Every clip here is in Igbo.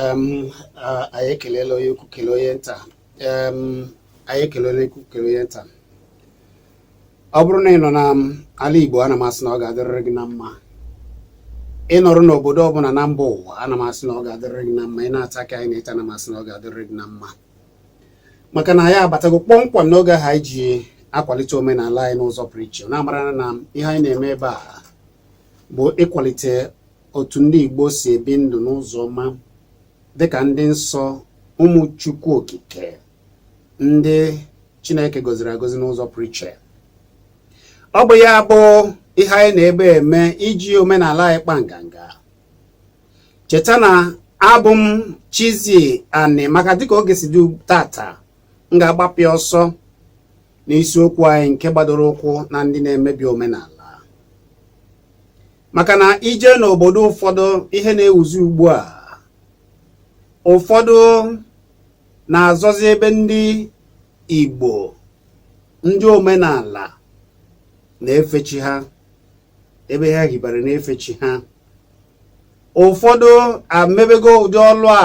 anyị ekelela onye ukwu kele onye nta anyị ekelela onye ukwu kele onye nta ọ bụrụ na ị nọ n'ala Igbo ana m asị na ọ ga-adịrịrị gị na mma ị nọrọ n'obodo ọbụla na mba ụwa ana m asị na ọ ga-adịrịrị gị na mma ị na-ata ka anyị na-eche ana m asị na ọ ga-adịrịrị gị na mma maka na anyị abatago kpọmkwem n'oge ahụ anyị ji akwalite omenala anyị n'ụzọ pụrụ iche na-amara na ihe anyị na-eme ebe a bụ ịkwalite otu ndị Igbo si ebi ndụ n'ụzọ ọma dịka ndị nsọ ụmụ Chukwu Okike ndị Chineke gọziri agọzi n'ụzọ pụrụ iche ọ bụ ya bụ ihe anyị nọ ebe a eme iji omenala anyị kpa nganga cheta na abụ m Chizzy Ani maka dịka oge si dị tata m ga-agbapịa ọsọ n'isiokwu anyị nke gbadoro ụkwụ na ndị na-emebi omenala maka na i je n'obodo ụfọdụ ihe na-ewuzi ugbu a ụfọdụ na-azọzi ebe ndị Igbo ndị omenala na-efe chi ha ebe ha hibara na-efe chi ha ụfọdụ amebego ụdị ọlụ a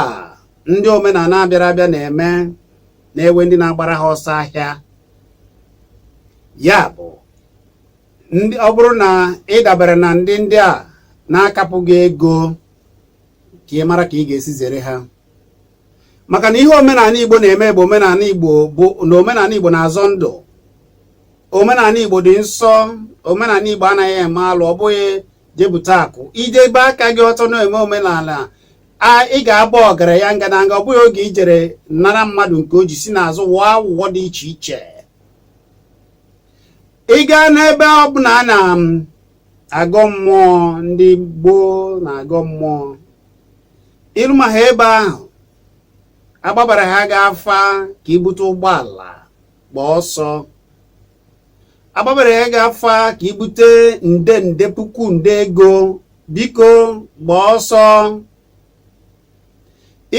ndị omenala bịara abịa na-eme na-ewe ndị na-agbara ha ọsọ ahịa ya bụ ọ bụrụ na ị dabara na ndị ndị a na-akapụ gị ego ka ị mara ka ị ga-esi zere ha maka na ihe omenala Igbo na-eme bụ na omenala Igbo na-azọ ndụ omenala Igbo dị nsọ omenala Igbo anaghị eme alụ ọ bụghị je bute akụ i debe aka gị ọtọ na-eme omenala ị ga-aba ọgaranya ngadanga ọ bụghị oge i jere nara mmadụ nke o ji si n'azụ wụọ awụwọ dị iche iche ị gaa n'ebe ọ bụla a na-agọ um, mmụọ ndị gboo na-agọ mmụọ i ruma ebe ahụ a gbabara gị afa ka i bute ụgbọala gbaa ọsọ a gbabara gị afa ka i bute nde nde puku nde ego biko gbaa ọsọ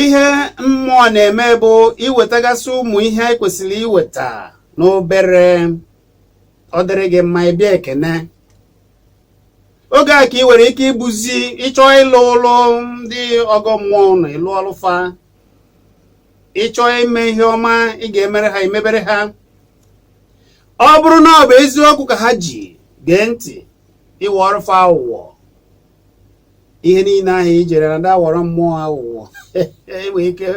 ihe mmụọ na-eme bụ iwetagasị ụmụ ihe anyị kwesịrị iweta n'obere ọ dịrị gị mma ị bịa ekene oge a ka ị nwere ike ibuzi ị chọọ ịlụ ụlọ ndị ọgọ mmụọ na ị lụọlụ fa ị chọọ ime ihe ọma ị ga-emere ha i mebere ha ọ bụrụ na ọ bụ eziokwu ka ha ji gee ntị ị wọọrụ fa awụwọ ihe niile ahụ i jere na ndị awọrọ mmụọ aghụghọ enwe ike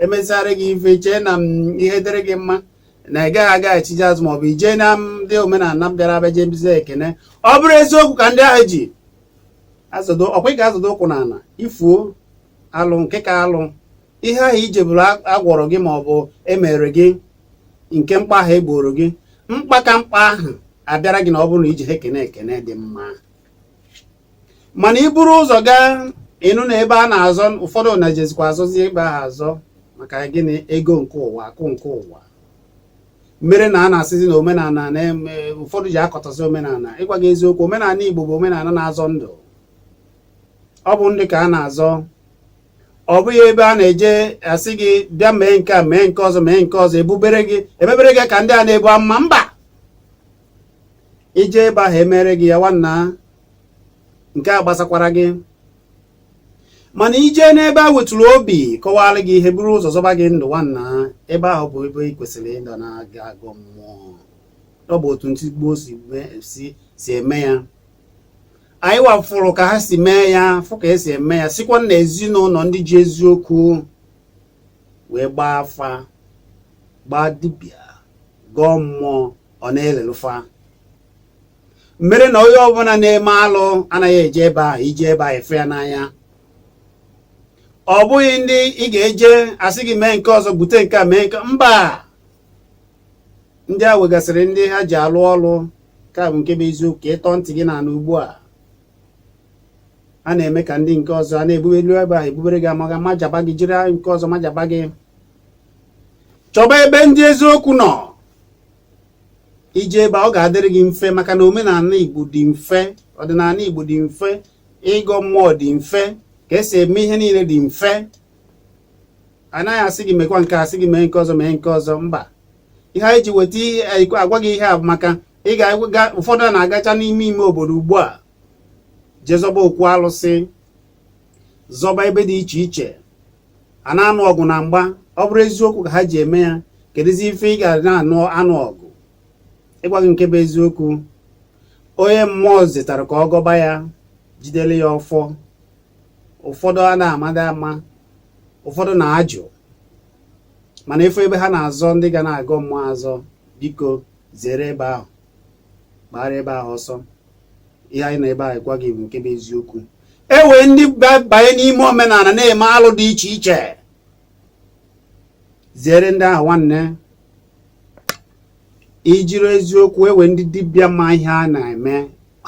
emesịara gị ife chee na ihe dịrị gị mma na ị gaghị agaghachizi azụ maọbụ ijee na ndị omenala bịara abịa jebezi ekene ọ bụrụ eziokwu ka ndị ahụ ji azọ ndụ ọkwa ị ga-azọdo ụkwụ n'ala ị fụọ alụ nke ka alụ ihe ahụ i jeburu agwọrọ gị ma ọ bụ emere gị nke mkpa ahụ egboro gị mkpa ka mkpa ahụ abịara gị na ọ bụrụ na ije ha ekene ekene dị mma mana i buru ụzọ gaa ịnụ na ebe a na-azọ ụfọdụ na-ejezikwa azọzi ebe ahụ azọ maka gịnị ego nke ụwa akụ nke ụwa mere na a na-asịzi na omenala na-eme ụfọdụ ji akọtọzi omenala ịgwa gị eziokwu omenala Igbo bụ omenala na-azọ ndụ ọ bụ ndụ ka a na-azọ ọ bụghị ebe a na-eje asị gị bịa mee nke a mee nke ọzọ mee nke ọzọ ebubere gị emebere gị ka ndị a na-ebu amụma mba ije ebe ahụ emere gị ya nwanna nke a gbasakwara gị mana ije n'ebe a wetụrụ obi kọwara gị ihe buru ụzọ zọba gị ndụ nwanna ebe ahụ bụ ebe ị kwesịrị ịdị na-aga agọ mmụọ ọ bụ otu ndị gboo si eme ya anyị wa fụrụ ka ha si mee ya fụ ka esi eme ya sikwa na ezinụlọ ndị ji eziokwu wee gbaa afa gbaa dibịa gọọ mmụọ ọ na-elelụ fa mere na onye ọbụla na-eme alụ anaghị eje ebe a ije ebe a afụ ya n'anya ọ bụghị ndị ị ga-eje asị gị mee nke ọzọ bute nke a mee nke mba ndị a nwegasịrị ndị ha ji alụ ọlụ ka bụ nke bụ eziokwu ka ịtọ ntị gị na-anụ ugbu a a na-eme ka ndị nke ọzọ a na-ebube elu ebe a ebubere gị amụma majaba gị jiri nke ọzọ majaba gị chọba ebe ndị eziokwu nọ ije ebe a ọ ga-adịrị gị mfe maka na omenala Igbo dị mfe ọdịnala Igbo dị mfe ịgọ mmụọ dị mfe ka esi eme ihe niile dị mfe anaghị asị gị mekwa nke a asị gị mee nke ọzọ mee nke ọzọ mba ihe anyị ji weta ihe agwa gị ihe a bụ maka ị ga-aga ụfọdụ a na-agacha n'ime ime obodo ugbu a je zọba okwu alụsị zọba ebe dị iche iche a na-anụ ọgụ na mgba ọ bụrụ eziokwu ka ha ji eme ya kedụzi ife ị ga na-anụ ọgụ ịgwa gị nke bụ eziokwu onye mmụọ zitara ka ọ gọba ya jidere ya ọfọ ụfọdụ a na-amada ama ụfọdụ na-ajụ mana ị fụ ebe ha na-azọ ndị ga na-agọ mmụọ azọ biko zere ebe ahụ gbara ebe ahụ ọsọ ihe anyị nọ ebe a agwa gị bụ nke bụ eziokwu e nwere ndị banye n'ime omenala na-eme alụ dị iche iche zere ndị ahụ nwanne ijiri eziokwu e nwere ndị dibịa ma ihe a na-eme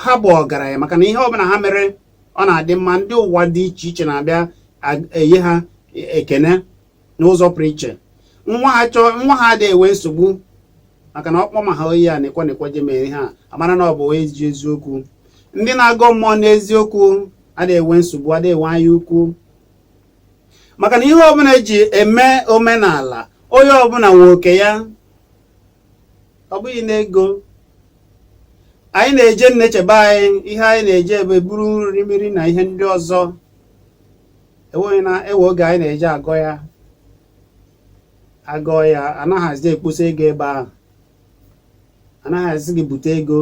ha bụ ọgaranya maka na ihe ọbụla ha mere ọ na-adị mma ndị ụwa dị iche iche na-abịa enye ha ekene n'ụzọ pụrụ iche nwa ha chọọ nwa ha adịghị enwe nsogbu maka na ọkpọ ma ha oyi a na-ekwe na-ekwe je mere ihe a amara na ọ bụ onye ji eziokwu ndị na-agọ mmụọ n'eziokwu adịghị enwe nsogbu adịghị enwe anya ukwu maka na ihe ọbụla eji eme omenala onye ọbụla nwe oke ya ọ bụghị n'ego anyị na-eje nneche be anyị ihe anyị na-eje ebe buru nri mmiri na ihe ndị ọzọ e nwere e nwere oge anyị na-eji agọ ya agọ ya anaghị asị gị kposa ego ebe ahụ anaghị asị gị bute ego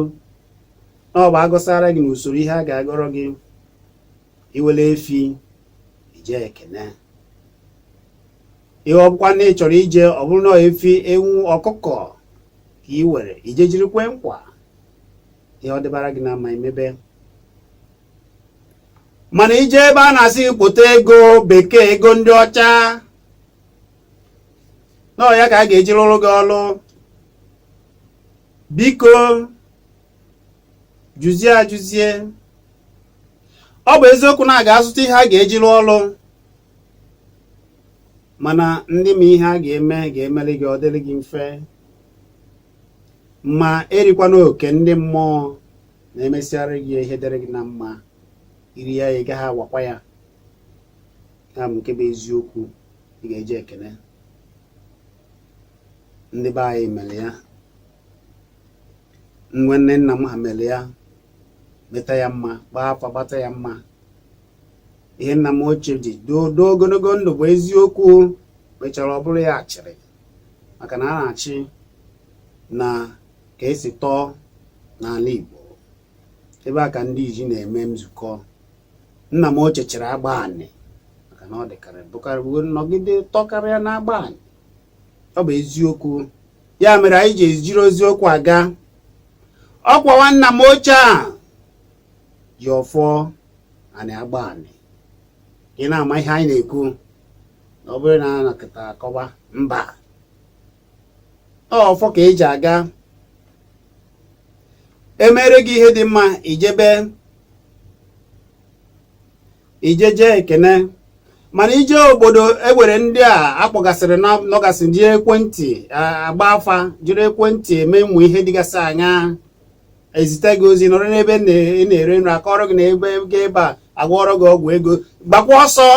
na ọ bụ agọsara gị n'usoro ihe a ga-agọrọ gị i were efi je kene ihe ọbụkwa na ị chọrọ ije ọ bụrụ na efi ewu ọkụkọ ka ị were ije jiri kwe nkwa ihe ọ dịbara gị na mma emebe mana ije ebe a na-asị gị kpota ego bekee ego ndị ọcha na ọ ya ka a ga-eji rụọrọ gị ọrụ biko jụzie ajụzie ọ bụ eziokwu na a ga-azụta ihe a ga-eji rụọ ọrụ mana ndị ma ihe a ga-eme ga-emere gị ọ dịrị gị mfe ma erikwana oke ndị mmụọ na e mesịara gị ihe dịrị gị na mma i rie ya ị gaghị awakwa ya ya bụ nke bụ eziokwu ị ga-eji ekene ndị be anyị mere ya nwanne nna m ha mere ya meta ya mma gbaa afa gbata ya mma ihe nna m ochie ji doo ogologo ndụ bụ eziokwu mechara ọ bụrụ ya achịrị maka na a na-achị na ka esi tọọ n'ala Igbo ebe a ka ndị iji na-eme nzukọ nna m ochie chịrị agba anị maka na ọ dịkarị nọgide tọkarịa na agba anị ọ bụ eziokwu ya mere anyị ji ejiri eziokwu aga ọkwa nwanna m ochie a ji ọfọ anị agba anị ị na-ama ihe anyị na-ekwu na ọ bụrụ na a na-akọta akọwa mba ọfọ ka eji aga emere gị ihe dị mma ijebe ijeje ekene mana ije obodo ewere ndị a akpọgasịrị nọgasị jiri ekwentị agba afa jiri ekwentị eme ụmụ ihe dịgasị anya ezite gị ozi nọrọ n'ebe ị na-ere nri akọrọ gị na ebe ebe a agwọrọ gị ọgwụ ego gbakwa ọsọ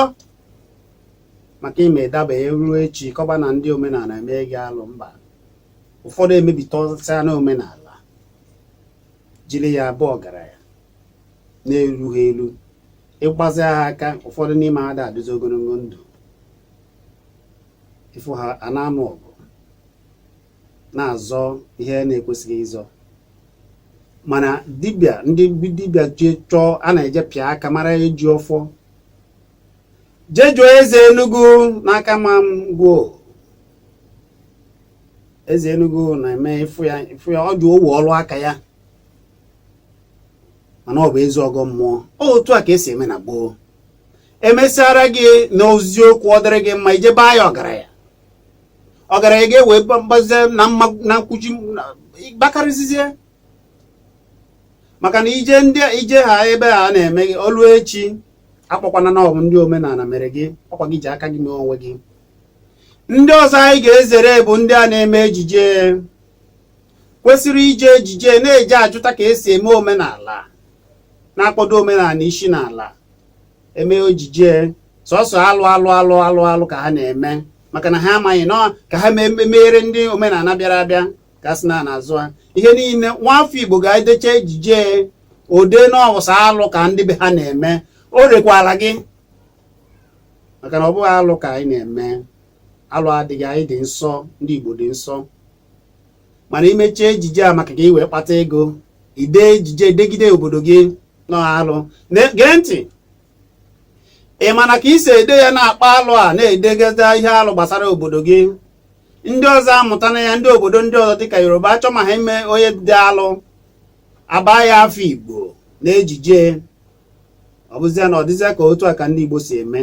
maka ime daba eruo echi kọba na ndị omenala emee gị alụ mba ụfọdụ emebitasịa na omenala jiri ya bụọ ọgaranya na-eru ha elu ịgbazi ha aka ụfọdụ n'ime ha ada adịzi ogologo ndụ ịfụ ha a na-anụ ọgụ na-azọ ihe a na-ekwesịghị ịzọ mana dibịa ndị dibịa ji chọọ a na-eje pịa aka mara eji ọfọ jee jụọ eze enugwu n'akama ngwo eze enugwu na-eme ịfụ ya ịfụ ya ọ dị owu ọrụ aka ya mana ọ bụ ezi ọgọ mmụọ otu a ka esi eme na gboo emesara gị n'eziokwu ọ dịrị gị mma ije baa ya ọgaranya ọgaranya gị enwee mgbazie na mma na nkwuchi gbakarịzizie maka na ije ndị ije ha ebe ha na-eme o ruo echi akọkwana na ọ bụ ndị omenala mere gị ọkwa gị ji aka gị mee onwe gị ndị ọzọ anyị ga-ezere bụ ndị a na-eme ejije kwesịrị iji ejije na-eje ajụta ka esi eme omenala na-akpọdo omenala isi n'ala eme ejije sọsọ alụ alụ alụ ka ha na-eme maka na ha amaghị na ka ha meere ndị omenala bịara abịa ka a sị na a na-azụ ha ihe niile nwafọ igbo ga-edecha ejije ode na ọ bụ sọ alụ ka ndị be ha na-eme o rekwara gị maka na ọ bụghị alụ ka anyị na-eme alụ adịghị anyị dị nsọ ndị igbo dị nsọ mana imechie ejije a maka ka ị wee kpata ego ide ejije degide obodo gị n'alụ na gee ntị ị ma na ka isi ede ya na-akpa alụ a na-edegide ihe alụ gbasara obodo gị ndị ọzọ amụta na ya ndị obodo ndị ọzọ dịka yoruba achọ ma ha ime onye dị alụ aba ya afa igbo na ejije ọ bụzia na ọ dịzi ka otu a ka ndị igbo si eme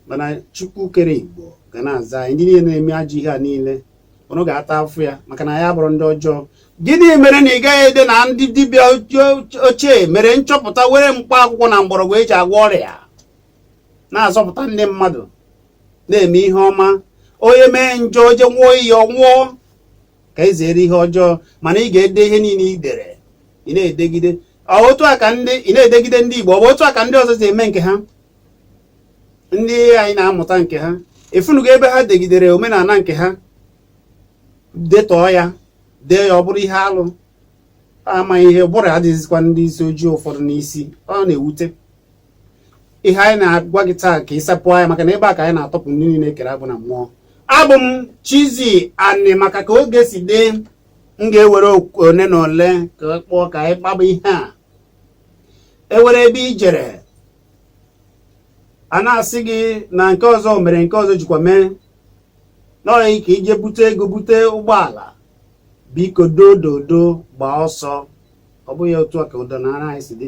mana chukwu kere igbo ga na-aza anyị ndị niile na-eme ajọ ihe a niile ụnụ ga-ata afụfụ ya maka na ya bụrụ ndị ọjọọ gịnị mere na ị gaghị ede na ndị dibịa ochie mere nchọpụta were mkpa akwụkwọ na mgbọrọgwụ eji agwọ ọrịa na-azọpụta ndị mmadụ na-eme ihe ọma onye mee njọ o je ṅụọ iyi ọ nwụọ ka e zere ihe ọjọọ mana ị ga-ede ihe niile i dere ị na-edegide otu a ka ndị ị na-edegide ndị Igbo ọ bụ otu a ka ndị ọzọ si eme nke ha ndị anyị na-amụta nke ha ị fụnụgo ebe ha degidere omenala nke ha detọọ ya dee ya ọ bụrụ ihe alụ amaghị ihe ụbụrụ adịghịzikwa ndị isi ojii ụfọdụ n'isi ọ na-ewute ihe anyị na-agwa gị taa ka ị sapụ anya maka na ebe a ka anyị na-atọpụ ndị niile e kere agbụ na mmụọ abụ m Chizzy Ani maka ka oge si dị m ga-ewere one na ole ka kpọọ ka anyị kpaba ihe a e nwere ebe i jere a na-asị gị na nke ọzọ mere nke ọzọ jikwa mee n'ọyị ka i je bute ego bute ụgbọala biko dododo gbaa ọsọ ọ bụghị otu a ka ọdịnala anyị si dị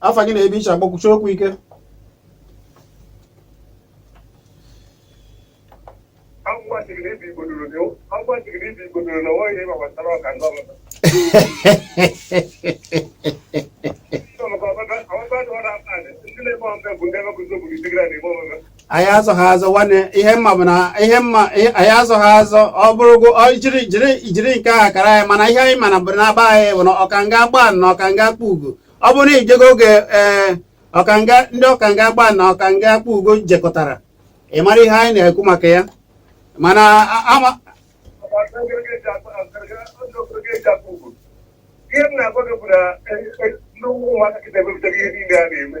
afa gị na ebe i si akpọ kwusie okwu ike Thank you. anyị azọ ha azọ nwanne ihe m ma bụ na ihe m ma ihe- anyị azọ ha azọ ọ bụrụgo ọ jiri jiri jiri nke ha kara anyị mana ihe anyị mana bụ na aba anyị bụ na ọkanga Agbani na ọkanga Akpugo ọ bụrụ na i jego oge ee ọkanga ndị ọkanga Agbani na ọkanga Akpugo jekọtara ị mara ihe anyị na-ekwu maka ya mana a- ama ihe m na-agwa gị bụ na ndị ụmụaka kịta ebepụtaghị ihe niile a na-eme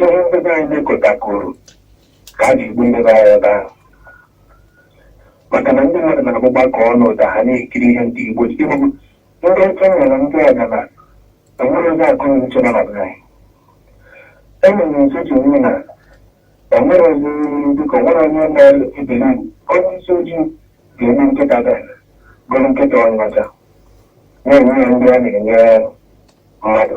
ihe ndị be anyị mekọtakoro ka e ji egbu ndị be anyị ebe ahụ maka na ndị mmadụ na-abụ gbakọ ọnụ ụda ha na-ekiri ihe ndị igbo ji ịbụ ndị ọcha nwere ndị ọga na enwere ndị akọ na uche na na be anyị enwere nso ji onwe na o nwere ozi dịka o nwere onye na-ebere onye isi ojii ga-eme nkịta da gụrụ nkịta onye ọcha na-enye ya ndị a na-enye mmadụ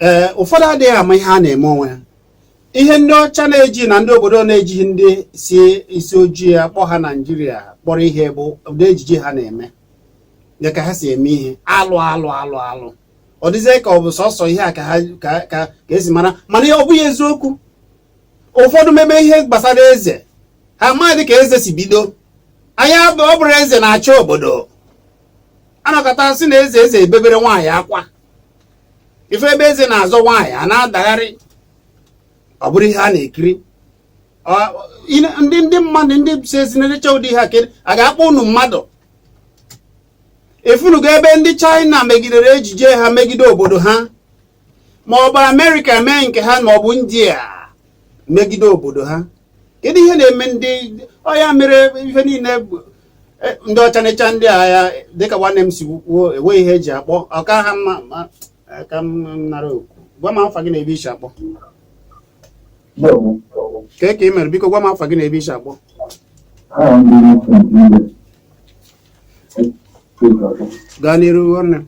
ee ụfọdụ adịghị ama ihe a na-eme onwe ha ihe ndị ọcha na-eji na ndị obodo na-ejighị ndị si isi ojii akpọ ha naijiria kpọrọ ihe bụ ụdị ejiji ha na-eme dịka ha si eme ihe alụ alụ alụ alụ ọ dịzie ka ọ bụ sọsọ ihe a ka ha ka ka e si mara mana ọ bụghị eziokwu ụfọdụ meme ihe gbasara eze ha amaghị ka eze si bido anyị ọ bụrụ eze na-achị obodo a nọkata sị na eze eze ebebere nwaanyị akwa ife ebe eze na-azọ nwaanyị a na-adagharị ọ bụrụ ihe a na-ekiri ndị ndị mmadụ ndị si ezi na-elecha ụdị ha kere a ga-akpọ unu mmadụ afụnugo ebe ndị China megidere ejije ha megide obodo ha ma ọ bụ Amerịka mee nke ha ma ọ bụ India megide obodo ha kedu ihe na-eme ndị ọ ya mere ihe niile e, ndị ọcha na-echa ndị agha dịka nwanne m si kwuo enweghị ihe e ji akpọ ọ ka ha mma ka m nara okwu gwa m afa gị na ebe i si akpọ ka ka ị mere biko gwa m afa gị na ebe i si akpọ gaa n'iru nwanne m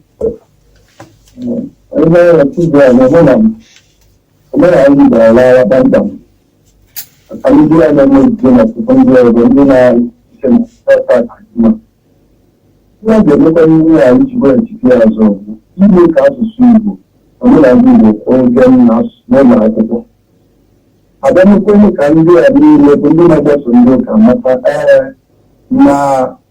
Ihe a ga-emekwa n'ihu ya iji weghachite ya azụ bụ ime ka asụsụ Igbo omenala Igbo kwụọ ụgwọ na asụsụ n'ụlọ akwụkwọ a bịa mekwenye ka ndị a niile bụ ndị na-agbaso ndị ụka mata ee na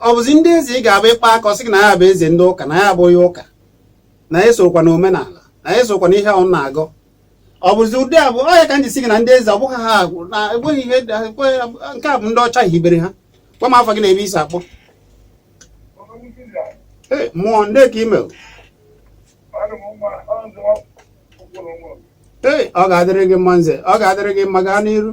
ọ bụzi ndị eze ị ga-abụ ị kpaa aka ọ sị gị na ya bụ eze ndị ụka na ya bụ onye ụka na ya esokwa na omenala na ya esokwa na ihe unu na-agọ ọ bụzi ụdị a bụ ọ ya ka m ji sị gị na ndị eze ọ bụghị ha agwụ na enweghị ihe nke a bụ ndị ọcha hibere ha gwa m afa gị na ebe i si akpọ mmụọ ndị ka ime ee ọ ga-adịrị gị mma nze ọ ga-adịrị gị mma gaa n'iru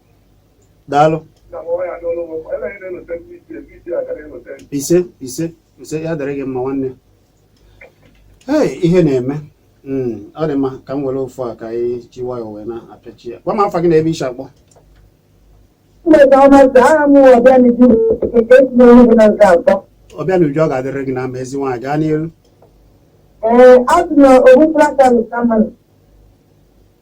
daalụ ise ise ise ya dịrị gị mma nwanne ee ihe na-eme hmm, ọ dị mma ka m were ofu a ka anyị ji nwayọ wee na-apịachi ya gwa m afa gị na ebe i si akpọ Ọbịanuju ọ ga-adịrị gị na mma ezi nwaanyị gaa n'iru Ee, abụ m ogbufra ka m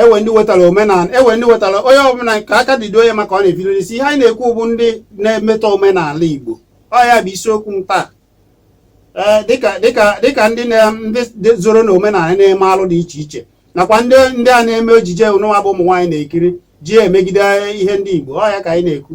enwe ndị wetara omenala enwe ndị wetara onye ọbụla ka aka dido onye maka ọ na-ebido isi ihe anyị na-ekwu bụ ndị na-emetọ omenala Igbo ọ ya bụ isiokwu m taa ee dịka dịka dịka ndị ndị zoro na omenala na-eme alụ dị iche iche nakwa ndị ndị a na-eme ejije unu nwa bụ ụmụ nwaanyị na-ekiri ji emegide ihe ndị Igbo ọ ya ka anyị na-ekwu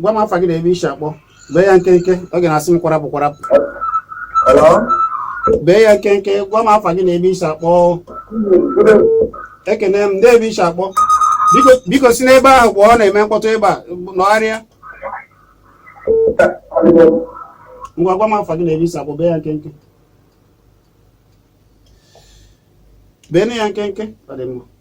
gwa m afa gị na ebe i si akpọ bee ya nkenke oge na-asị m kwarapụ kwarapụ bee ya nkenke gwa m afa gị na ebe i si akpọ ekene m ndị ebe i si akpọ biko si n'ebe ahụ pụọ ọ na-eme mkpọtụ ebe a nọgharịa ngwa gwa m afa gị na ebe i si akpọ bee ya nkenke bee ya nkenke ọ dị mma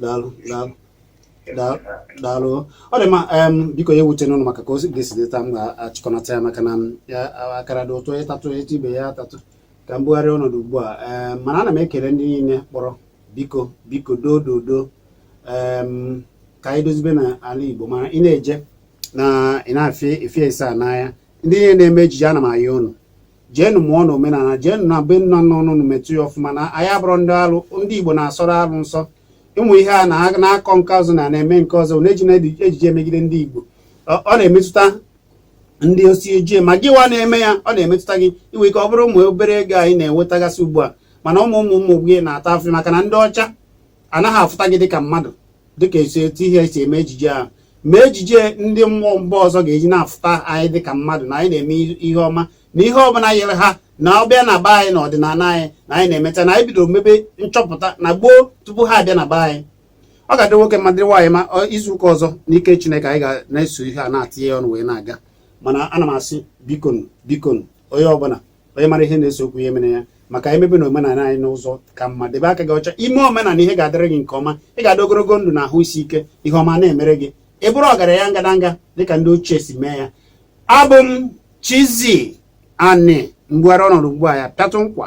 daalụ daalụ daalụ daalụ ọ dị mma em, biko ya ewutena unu maka ka o si ga-esi dị taa m ga-achịkọnata ya maka na m, ya a- akara dị ụtọ ị tatụ etu ibe ya atatụ ka m bugharịa ọnọdụ ugbu a em, mana ana m ekele ndị niile kpọrọ biko biko doo doo doo em, ka anyị dozibe na ala igbo mana ị na-eje na ị na-afịa efe ese a n'anya ndị niile na-eme ejije ana m ayọ unu jeenụ mụọ na omenala jeenụ na be nna nna unu metụ ya ọfụma na anyị abụrọ ndị alụ ndị igbo na-asọrọ alụ nsọ ụmụ ihe a na-akọ nke ọzọ na na-eme nke ọzọ na-eji na ejije emegide ndị igbo ọ na-emetụta ndị isi ojii ma gịwa na-eme ya ọ na-emetụta gị i nwe ike ọ bụrụ ụmụ obere ego anyị na-enwetagasị ugbu a mana ụmụ ụmụ ụmụ gị na-ata afụfụ maka na ndị ọcha anaghị afụta gị dịka mmadụ dịka esi etu ihe esi eme ejije ahụ ma ejije ndị mba mba ọzọ ga-eji na-afụta anyị dịka mmadụ na anyị na-eme ihe ọma na ihe ọbụla yere ha na ọ bịa na be anyị na ọ dị n'ala anyị na anyị na-emeta na anyị bidoro mebe nchọpụta na gboo tupu ha abịa na be anyị ọ ga-adị nwoke mma dị nwaanyị mma izu ụka ọzọ n'ike Chineke anyị ga na-eso ihe a na-atinye ọnụ wee na-aga mana ana m asị bikonu bikonu onye ọbụla onye mara ihe na-eso okwu ya emere ya maka na emebe na omenala anyị n'ụzọ ka mma debe aka gị ọcha i mee omenala ihe ga-adịrị gị nke ọma ị ga-adị ogologo ndụ na ahụ isi ike ihe ọma na-emere gị ị bụrụ ọgaranya ngadanga dịka ndị ochie si mee ya abụ m Chizzy Ani m ga-ebugharị ọnọdụ ugbu a ya pịatụ nkwa